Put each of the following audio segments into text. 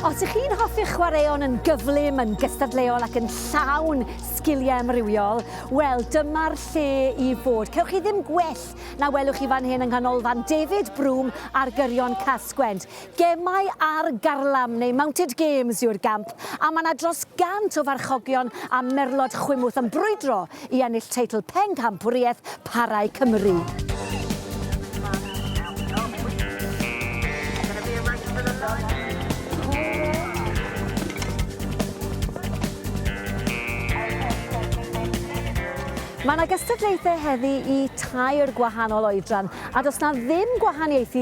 Os ych chi'n hoffi'ch chwaraeon yn gyflym, yn gystadleuol ac yn llawn sgiliau amrywiol, wel, dyma'r lle i fod. Cewch chi ddim gwell na welwch chi fan hyn yng Nghanolfan David Broom ar gyrion Casgwent. Gemau ar garlam neu mounted games yw'r gamp a mae 'na dros 100 o farchogion a merlod chwimwth yn brwydro i ennill teitl Penghampwriaeth Parau Cymru. Mae 'na gystadlaethau heddi i tair gwahanol oedran a does 'na ddim gwahaniaethu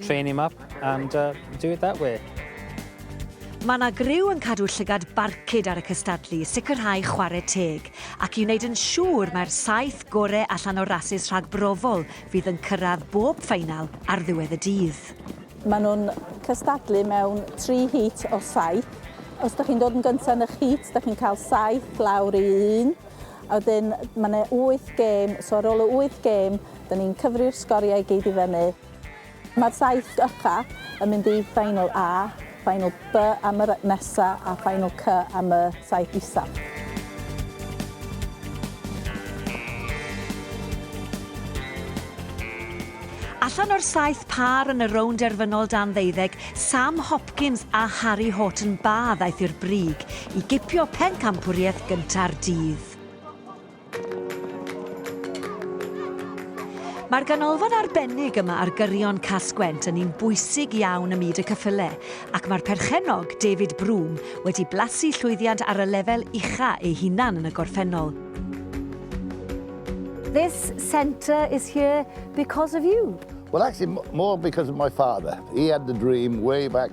train him up and uh, do it that way. Mae yna griw yn cadw llygad barcud ar y cystadlu, sicrhau chwarae teg, ac i wneud yn siŵr mae'r saith gorau allan o'r rasys rhag brofol fydd yn cyrraedd bob ffeinal ar ddiwedd y dydd. Maen nhw'n cystadlu mewn tri hit o saith. Os ydych chi'n dod yn gyntaf yn eich hit, ydych chi'n cael saith lawr i un. A wedyn ma' 'ne wyth gêm, so ar ôl y wyth gêm, 'dan ni'n cyfri'r sgoriau i gyd i fyny. Ma'r saith ucha yn mynd i Final A, Final B am yr nesa, a Final C am y saith isaf. Allan o'r saith pâr yn y rownd derfynol dan ddeuddeg, Sam Hopkins a Harri Horton-Barr ddaeth i'r brig i gipio pencampwriaeth gynta'r dydd. Mae'r ganolfan arbennig yma ar gyrion Cas-gwent yn un bwysig iawn ym myd y cyffyle, ac mae'r perchennog, David Broom, wedi blasu llwyddiant ar y lefel ucha ei hunan yn y gorffennol. This centre is here because of you. Well actually more because of my father. He had the dream way back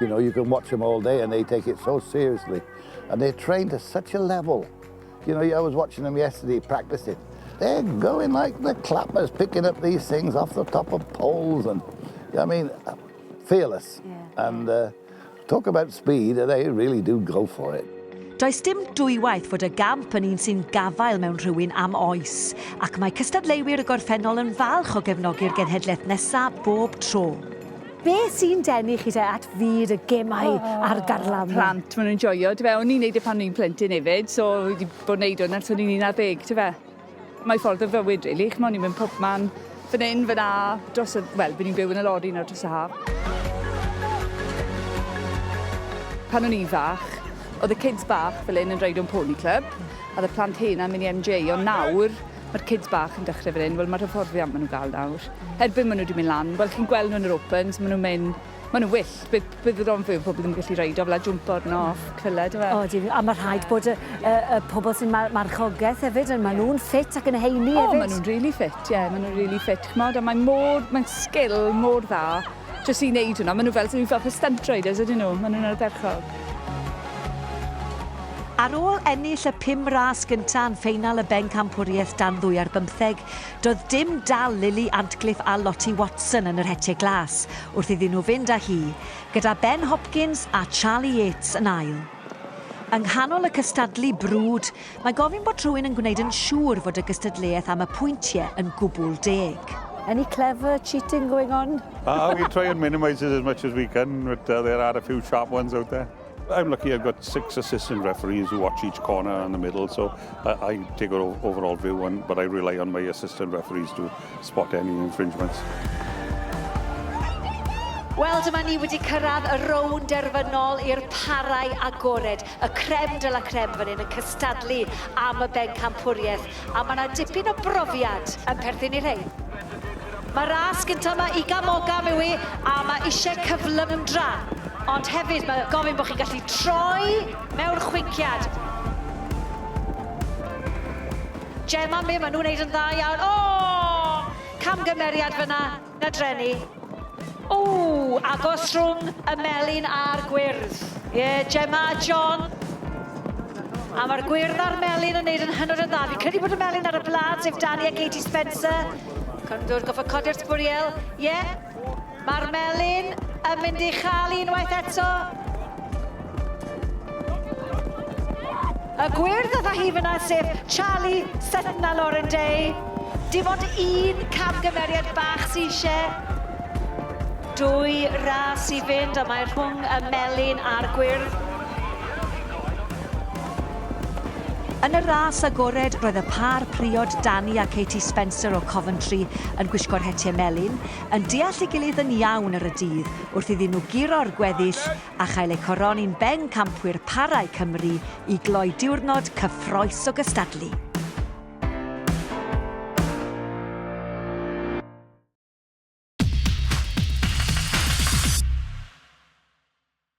You know, you can watch them all day and they take it so seriously. And they're trained at such a level. You know, I was watching them yesterday practicing. They're going like the clappers, picking up these things off the top of poles. And, I mean, fearless. Yeah. And uh, talk about speed, they really do go for it. Does dim dwywaith fod y gamp yn un sy'n gafael mewn rhywun am oes, ac mae cystadleuwyr y gorffennol yn falch o gefnogi'r genhedlaeth nesaf bob tro. Be sy'n denu chi te at fyd y gemau oh, a'r garlam? Plant, maen nhw'n joio, dy fe. O'n i'n neud e pan o'n i'n plentyn hefyd, so wedi bod yn neud hwn ers o'n i'n 11, dy fe. Mae ffordd o fywyd, really. Chymod, ni'n mynd pob man, fan hyn, fan a, dros y... Wel, fi'n byw yn y lori nawr dros y haf. Pan o'n i'n fach, oedd y kids bach fel hyn yn rhaid o'n pony club, a oedd y plant hyn am mynd i MJ, ond nawr, Mae'r kids bach yn dechrau fan hyn, wel mae'r hyfforddiant maen nhw'n gael nawr. Erbyn maen nhw wedi mynd lan, wel chi'n gweld nhw yn yr opens, maen nhw'n mynd, maen nhw'n wyllt, bydd, bydd yr onfwyw o pobl ddim yn gallu reidio fel a jwmpo arno off cylled yw e? O ydyn, a mae rhaid bod y, y, y pobl sy'n mar marchogaeth hefyd, yn, maen nhw'n ffit ac yn heini hefyd. O, maen nhw'n rili ffit, ie, maen nhw'n rili ffit, ch'mod, a mae mor, mae'n sgil mor dda, Jyst i wneud hwnna, maen nhw fel, fel pe stentroiders ydyn nhw, maen nhw'n ardderchog. Ar ôl ennill y pum ras gyntaf yn ffeinal y Bencampwriaeth dan ddwy ar bymtheg, doedd dim dal Lily Antcliffe a Lottie Watson yn yr Hetiau Glas wrth iddyn nhw fynd â hi, gyda Ben Hopkins a Charlie Yates yn ail. Yng nghanol y cystadlu brwd, Mae gofyn bod rhywun yn gwneud yn siŵr fod y gystadleuaeth am y pwyntiau yn gwbl deg. Any clever cheating going on? Ah, we try and minimise it as much as we can, but uh, there are a few sharp ones out there. I'm lucky I've got six assistant referees who watch each corner and the middle, so I, I take an overall view, and, but I rely on my assistant referees to spot any infringements. Wel, dyma ni wedi cyrraedd y rownd derfynol i'r parau agored. y creme de la creme fan hyn yn cystadlu am y bencampwriaeth, a mae 'na dipyn o brofiad yn perthyn i'r rhein. Mae ras gynta' 'ma Iga Mogam yw hi, a mae ishe cyflymdra, ond hefyd mae gofyn bod chi'n gallu troi mewn chwinciad. Gemma, Mim, maen nhw'n wneud yn dda iawn. O! Camgymeriad fan'na. Na dreni. Ww, agos rhwng y melyn a'r gwyrdd. Ie, yeah, Gemma a John. A mae'r gwyrdd a'r melyn yn neud yn hynod o dda. Fi'n credu bod y melyn ar y blad, sef Dani a Katie Spencer. Cymdwr, goffa codi'r sbwriel. Ie, yeah. mae'r melyn yn mynd i chael unwaith eto. Y gwir dda hi fynna sef Charlie Sutton a Lauren Day. Dim ond un camgymeriad bach sy eisiau dwy ras i fynd a mae rhwng y melyn a'r gwyrdd. Yn y ras agored roedd y pâr priod Danny a Katie Spencer o Coventry yn gwisgo'r hetiau melyn, yn deall ei gilydd yn iawn ar y dydd wrth iddyn nhw guro'r gweddill a chael ei choroni'n Bencampwyr Parau Cymru i gloi diwrnod cyffrous o gystadlu.